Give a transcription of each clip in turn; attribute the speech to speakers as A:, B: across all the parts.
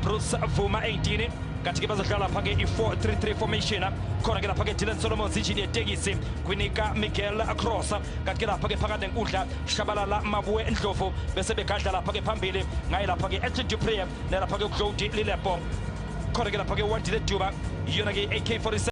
A: Bruce Vuma 18 kathi-ke bazodlala lapha-ke i-433 formation khona-ke lapha-ke dylan solomon zijini yetekisi kwinika miguel cross kathi-ke lapha-ke phakathi nenkundla shabalala mabuwe ndlovu bese begadla lapha-ke phambili ngaye lapha-ke edlin dupree nalapha-ke uglodi lilepo khona-ke lapha-ke uwandile duba iyona-ke i-ak 47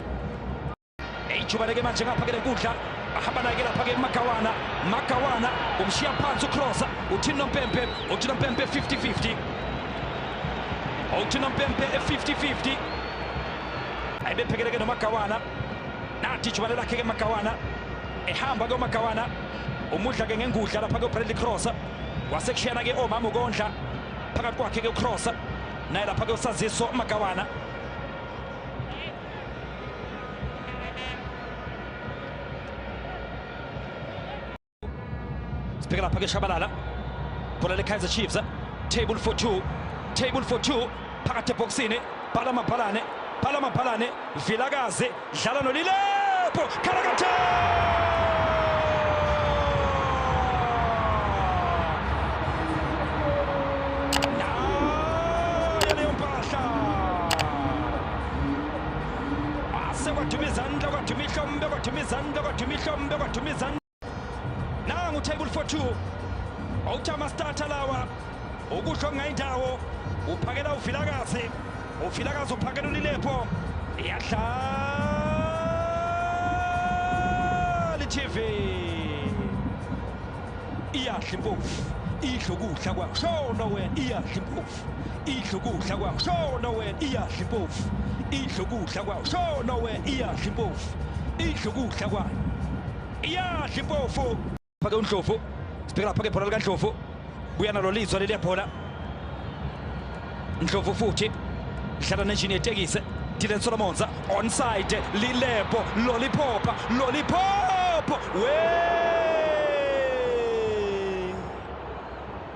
A: ithuba leke manje ngapha ke lenkundla bahamba naye ke lapha ke magawana magawana umshiya phansi ucrossa uthini nompempe uthi nompempe 50-50 uthi nompempe 50-50 ayebephekeleke nomagawana nathi ithuba lelakhe ke magawana ehamba ke umagawana umudla ke ngengudla lapha ke ubradley crossa wasekushiyana ke omama ukondla phakathi kwakhe ke ucrossa naye lapha ke usaziso magawana Picking up against Shabalala. Bola le Kaizer Chiefs. Table for two. Table for two. Phakathi ebhokisini. Bhala mabhalane. Bhala mabhalane. Vilakazi. Dlala nolilepo. Karakate! Mihla ase kwaduma izandla kwaduma ihlombe kwaduma izandla kwaduma ihlombe kwaduma izandla nangu table 42 awuthi amastarter lawa ukusho ngayindawo uphakela uvilakazi uvilakazi uphakela ulilepho iyadlala itv iyadla impofu idla ukudla kwashona wena iyadla impofu idla ukudla kwawo shona wena iyadla impofu idla ukudla kwawo shona wena iyadla impofu idla ukudla kwayo iyadla impofu phake undlovu sibheka lapha ke bhola likandlovu buya nalo lizwa leliya bhola ndlovu futhi dlala nenjini yetekisi dylan solomonza onside lilebo loliphopa loliphopo wee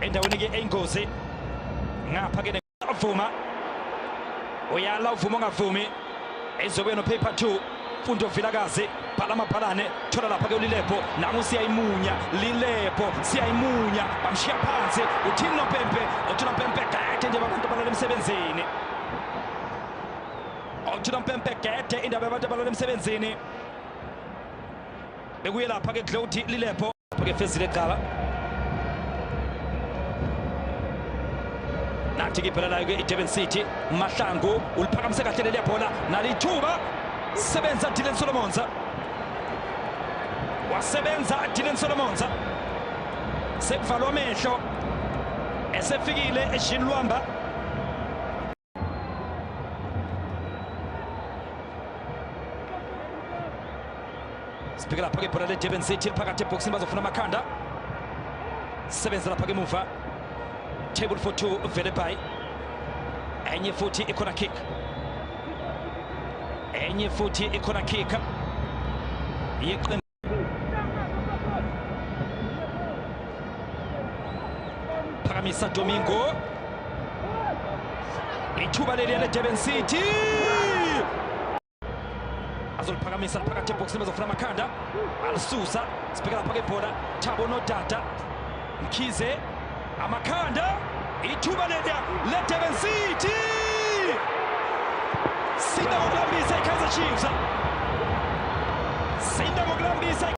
A: endaweni ke eyingozi ngapha ke avuma uyala uvuma ongavumi ezobuya nopaper 2 mfundo vilakazi bhala amabhalane thola lapha ke ulilepo nangu siyayimunya lilepo siyayimunya bamshiya phansi uthini nopempe uthula mpempe gede nje abantu abalala emsebenzini uthula mpempe gede indaba yabantu abalala emsebenzini bekuye lapha ke Glody Lilepo ke fezile qala nathi kiphela nayo ke iDurban City Mahlangu uliphakamise kahle leli yabhola nalithuba sebenza Dylan Solomons wasebenza Dylan Solomons sekuvalwa amehlo esefikile eshini luhamba sibhekela phaka ibhola ledurban city liphakathi ebhokisini bazofuna amakhanda sebenzela phaka emuva table for two vele by enye futhi ikhona kick enye futhi ikhona kick yeqembu phakamisa domingo ithuba leliya ledurban city azoliphakamisa phakathi ebhokisini bezofuna amakhanda alisusa sibheka lapha kebhola thabo nodada Mkhize amakhanda ithuba leda leDurban City Sinda ngokulambisa iKaizer Chiefs Sinda ngokulambisa